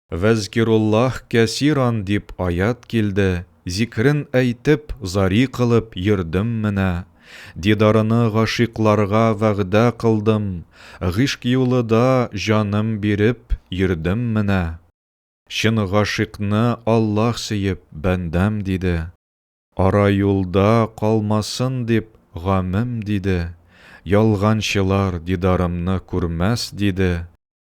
Вәзкируллаһ кәсиран дип аять килде, зикрен әйтеп, зари кылып йөрдем менә. Дидарыны гашыйкларга вәгъдә кылдым, гыйшк юлы да җаным биреп йөрдем менә. Чын гашыйкны Аллаһ сөеп, бәндәм диде. Ара юлда калмасын дип гамем диде, ялганчылар дидарымны күрмәс диде.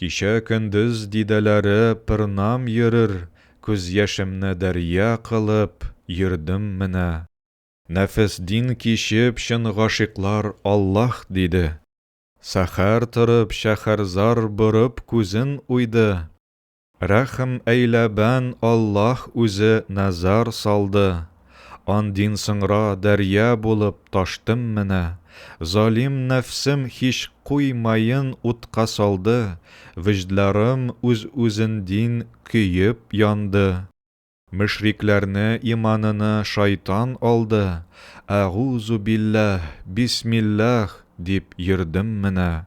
Кичә көндез дидәләре пырнам йөрер Күз яшемне дәрья кылып йөрдем менә. Нәфес дин кичеп чын гашыйклар Аллаһ диде. Сәхәр торып шәхәрзар борып күзен уйды. Рәхм әйлә бән Аллаһ үзе назар салды Андин соңра дәрья булып таштым менә Залим нәфсем һич куй маен утка салды Вөҗдларым үз үзендин көеп янды Мөшрикләрне иманыны шайтан алды Әгузу билләһ, бисмилләһ дип йөрдем менә.